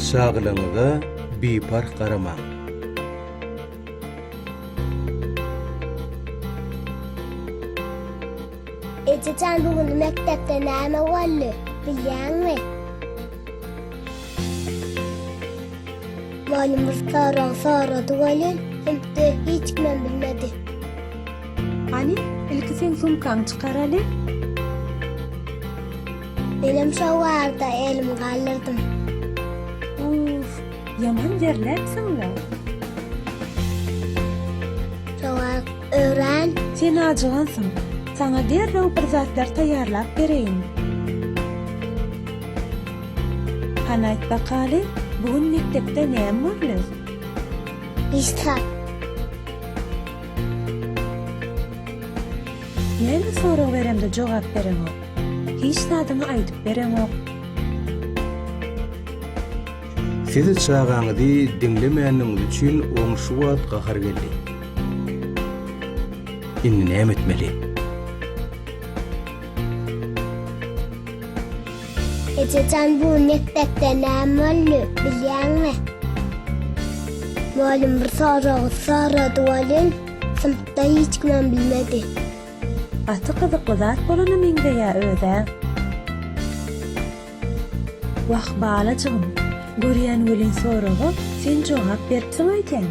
Saglygyňyza biparh garamaň! Ejejan bu gün mekdepde näme boldy bilýäňmi? Mugallym bir sorag sorady welin, hem-de hiç kimem bilmedi. Hany, ilki sen sumkaňy çykaraly. Menem şo barada elimi galdyrdym. Uff, ýaman zerläpsiň-le. Sowak öwren. Sen ajygansyň. Saňa derrew bir zatlar taýýarlap bereýin. Hany aýt bakaly, bu gün mekdepde näme boldy? Işdäp. Näme sorag beremde jogap bereňok? Hiç zadyňy aýdyp bereňok? Siz çagaňyzy diňlemäniňiz üçin oň şu wagt gahary geldi. Indi näme etmeli? Ejejan bu mekdepde näme boldy bilýäňmi? Mugallym bir sorag sorady welin, synpda hiç kimem bilmedi. Gaty gyzykly zat bolana meňzeýä özä. Wah balajygym, görýän welin soraga sen jogap beripsiň öýdýän.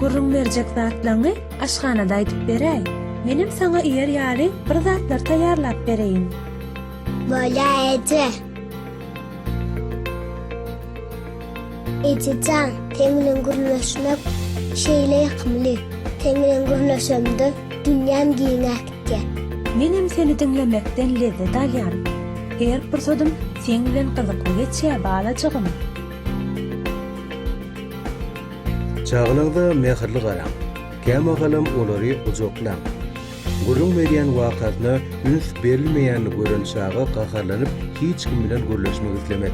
Gürrüň berjek zatlaňy aşhanada aýdyp beräý. Menem saňa iýer ýaly bir zatlar taýýarlap bereýin. Bolýar eje. Eje jan, seň bilen gürleşmek şeýle ýakymly. Seň bilen gürleşemde dünýäm giňäp gitýär. Menem seni diňlemekden lezzet alýan. Her pursatym seň bilen gyzykly geçýär balajygym. Çagalarga mähirli garaň. Kämagalam olary gujaklaň. Gürrüň berýän wakasyna üns berilmeýänini gören çaga gaharlanyp hiç kim bilen gürleşmek islemez.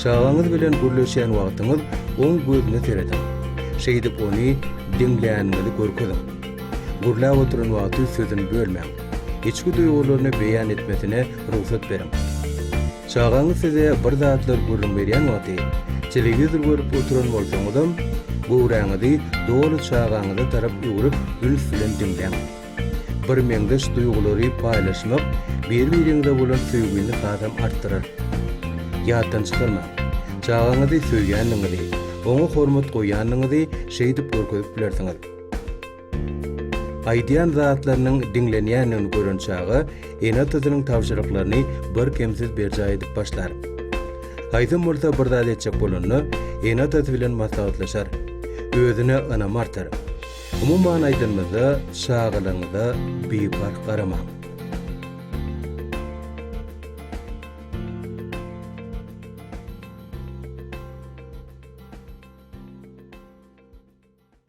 Çagaňyz bilen gürleşýän wagtyňyz oň gözüne serediň. Şeýdip ony diňläninizi görkeziň. Gürläp oturan wagty sözüni bölmäň. Içki duýgularyny beýan etmesine rugsat beriň. Çagaňyz size bir zatlar gürrüň berýän wagty, telewizor görüp oturan bolsaňyzam, göwräňizi doly çagaňyza tarap öwrüp üns bilen diňläň. Birmeňzeş duýgulary paýlaşmak biri-biriňize bolan söýgini hasam artdyrar. Ýatdan çykarmaň, çagaňyzy söýýändigiňizi, oňa hormat goýýandygyňyzy şeýdip görkezip bilersiňiz. Aýdýan zatlarynyň diňlenýändigini gören çaga ene-atasynyň tabşyryklaryny birkemsiz berjaý edip başlar. Haýsam bolsa bir zat etjek bolanda, ene-atasy bilen maslahatlaşar. Özüne ynamy artar. Umuman aýdanymyzda, çagalaryňyza biparh garamaň.